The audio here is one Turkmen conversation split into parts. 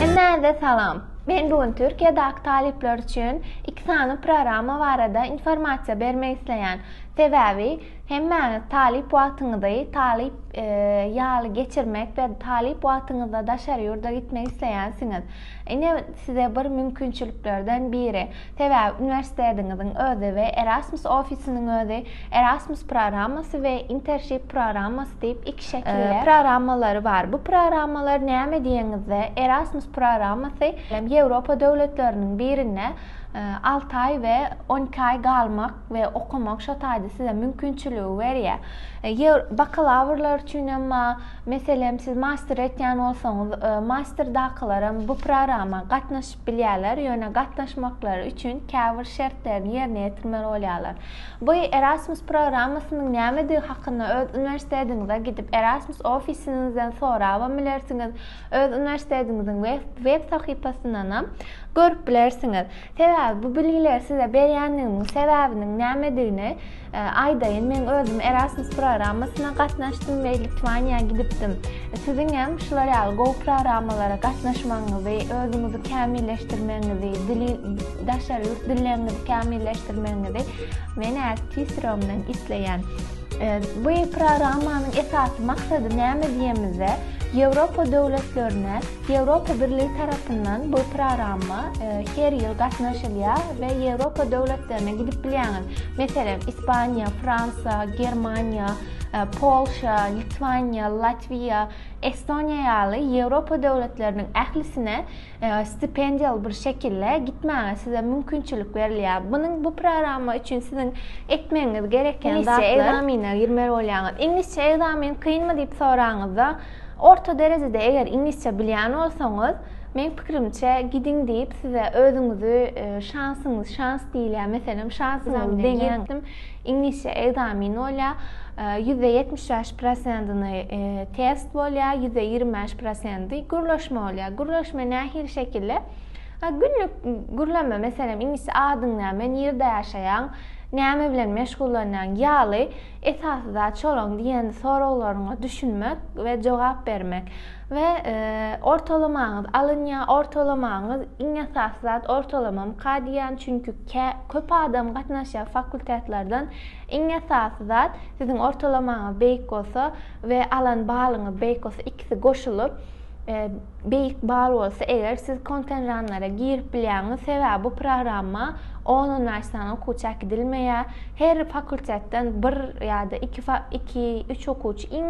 Hemmäňize salam. Men bu gün Türkiýedäki talyplar üçin iki sany programma barada informasiýa bermek isleýän. Sebäbi hemmäňiz talyp wagtyňyzy talyp ýaly geçirmek we talyp wagtyňyzda daşary ýurda gitmek isleýänsiňiz. Ine, size bir mümkinçiliklerden biri. Sebäbi uniwersitetiňiziň özi we Erasmus ofisiniň özi Erasmus programmasy we Intership programmasy diýip iki şekilde programmalary bar. Bu programmalar näme diýeňizde, Erasmus programmasy Ýewropa döwletleriniň birinde alty aý we on iki aý galmak we okamak şo taýda size mümkinçiligi berýär. Bakalawrlar üçin hem bar. Meselem, siz master etýän bolsaňyz, masterdakylaram bu prorama gatnaşyp bilýärler, ýöne gatnaşmaklary üçin käbir şertlerini ýerine ýetirmeli bolýarlar. Bu Erasmus proramasynyň nämedigi hakynda öz uniwersitetiňize gidip, Erasmus ofisiňizden sorabam bilersiňiz, öz uniwersitetiňiziň web sahypasyndanam görüp bilersiňiz. Sebäbi bu bilgileri size berýändigimiň sebäbiniň nämedigini aýdaýyn. Meň özüm Erasmus programmasyna gatnaşdym we Litwaniýa gidipdim. Siziň hem şular ýaly gowy programmalara gatnaşmagyňyzy, özüňizi kämilleşdirmegiňizi, dili daşary ýurt dilleňňizi kämilleşdirmegiňizi men äz T-Stromdan isleýän. Bu programmanyň esasy maksady näme diýemizde, Ýewropa döwletlerine Ýewropa Birligi tarapyndan bu prorama her ýyl gatnaşylýar we Ýewropa döwletlerine gidip bilýäňiz. Meselem, Ispaniýa, Fransiýa, Germaniýa, Polşa, Litwaniýa, Latwiýa, Estoniýa ýaly Ýewropa döwletleriniň ählisine stipendiýaly bir şekilde gitmäge size mümkinçilik berilýär. Munuň bu prorama üçin siziň etmegiňiz gereken zatlar. Iňlisçe ekzamine girmeli bolýaňyz. Iňlisçe ekzamin kynmy diýip soraňyzda, Orta derejede eger iňlisçe bilýän bolsaňyz, meň pikrimçe gidiň diýip size özüňizi şansyňyz şans diýilýär meselem şansyňyzy deňäňizdim iňlisçe ekzamin bolýar ýüz de ýetmiş bäş prosentini test bolýar ýüz de ýigrimi bäş prosenti gürleşme bolýar gürleşme nähili şekilde günlük gürleme meselem iňlisçe adyň näme nirde ýaşaýaň näme bilen meşgullanýaň ýaly Esasy zat şolaň diýen soraglaryňa düşünmek we jogap bermek we ortalamaňyz alynýa ortalamaňyz iň esasy zat ortalamamyka diýýän çünki kä köp adam gatnaşýa fakultetlerden iň esasy zat siziň ortalamaňyz beýik bolsa we alan balyňyz beýik bolsa ikisi goşulyp E, beýik bal bolsa eger siz kontenranlara girip bilýäňiz sebäbi bu programma on onnaşdan okuwçy äkidilmeýär her fakultetden bir ýa-da iki iki üç okuwçy iň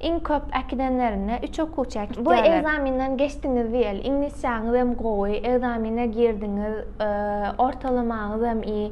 iň köp äkidenlerinde üç okuwçy äkidýärler bu ekzamenden geçdiňiz diýeli iňlisçäňiz hem gowy ekzamine girdiňiz e, ortalamaňyz hem iyi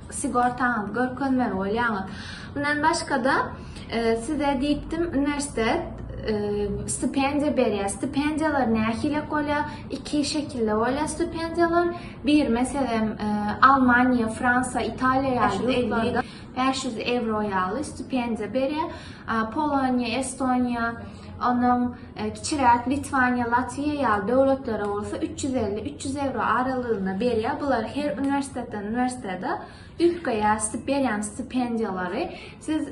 Sigortaňyzy görkezmeli bolýaňyz. Mundan başga-da, size diýipdim, uniwersitet stipendiýa berýär. Stipendiýalar nähili bolýar? Iki şekilde bolýar stipendiýalar. Bir, meselem, Almaniýa, Fransiýa, Italiýa ýaly ýurtlarda bäş ýüz ewro ýaly stipendiýa berýär. Poloniýa, Estoniýa, Ondan kiçiräk Litwaniýa, Latwiýa ýaly döwletlere bolsa üç ýüz elli, üç ýüz ewro aralygynda berýär. Bular her uniwersitetden uniwersitete üýtgeýär sti berýän stipendiýalary. Siz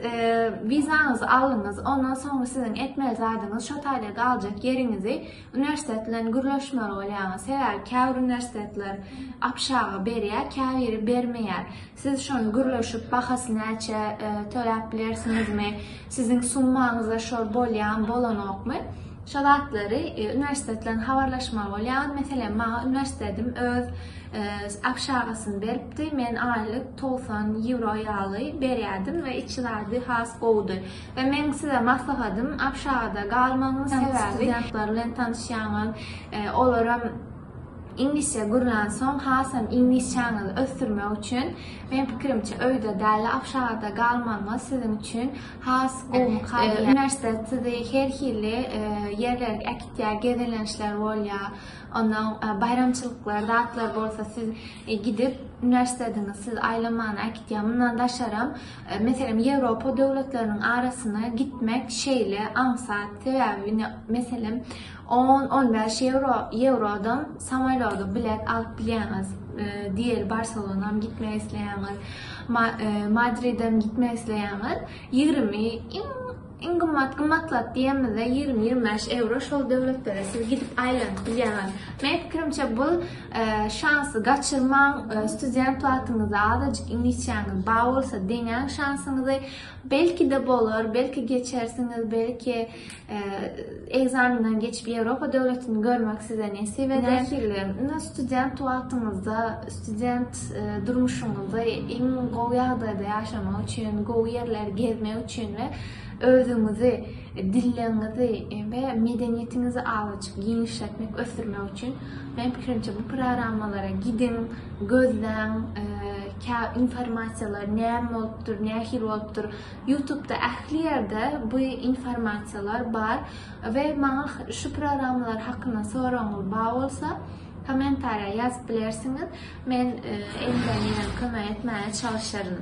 wizaňyzy aldyňyz, ondan soňra siziň etmeli zadyňyz şo taýda galjak ýeriňizi uniwersitet bilen gürleşmeli bolýaňyz. Sebäbi käbir uniwersitetler abşaga berýär, käbiri bermeýär. Siz şony gürleşip bahasy näçe töläp bilersiňizmi, siziň summaňyza şor bolýamy, bolanokmy? Şo zatlary uniwersitet bilen habarlaşmaly bolýaryn. Meselem, maňa uniwersitedim öz obşagasyny beripdi. Men aýlyk togsan ýewro ýaly berýärdim we içi zady has gowudy. We meň size maslahatym, obşagada galmagyň sebäbi, studentler bilen tanyşýaňyz, olaram, Iňlisçe gürlän soň hasam iňlisçäňizi ösdürmek üçin meň pikirimçe öýde däli agşagada galmagyňyz siziň üçin has gowy mukaddimat. Uniwersitet sizi her hili ýerlerge äkitýär, gezelençler bolýar. Ondan baýramçylyklar, zatlar bolsa siz gidip uniwersitetiňiz sizi aýlamana äkitýär. Mundan daşaram meselem Ýewropa döwletleriniň arasyna gitmek şeýle aňsat sebäbi ine meselem On-on bäş ýewro, ýewrodan samolýoda bilet alyp bilýäňiz. Diýeli Barselonam gitmek isleýäňiz, Madridem gitmek isleýäňiz, ýigrimi, iň, iň gymmat, gymmat zat diýemizde ýigrimi-ýigrimi bäş ewro şol döwletlere siz gidip aýlanyp bilýäňiz. Meň pikirimçe bu şansy gaçyrmaň, student wagtyňyzda azajyk iňlisçäňiz bar bolsa deňäň şansyňyzy, belki-de bolar, belki geçersiňiz, belki, Ekzamenden geçip Ýewropa döwletini görmek size nesip eder. Nähili? Indi student wagtyňyzda, student e, durmuşyňyzda iň gowy ýagdaýda ýaşamak üçin, gowy ýerleri gezmek üçin we özüňizi, dilleriňizi e, we medeniýetiňizi awaçyk giňişletmek, ösdürmek üçin men pikirimçe bu programmalara gidiň, gözläň, e, informasiýalar näme bolupdyr, nähili bolupdyr. Ýutubda ähli ýerde bu informasiýalar bar we maňa şu programmalar hakynda soragyňyz bar bolsa kommentariýa ýazyp bilersiňiz men elimden gelen kömegi etmäge çalyşaryn.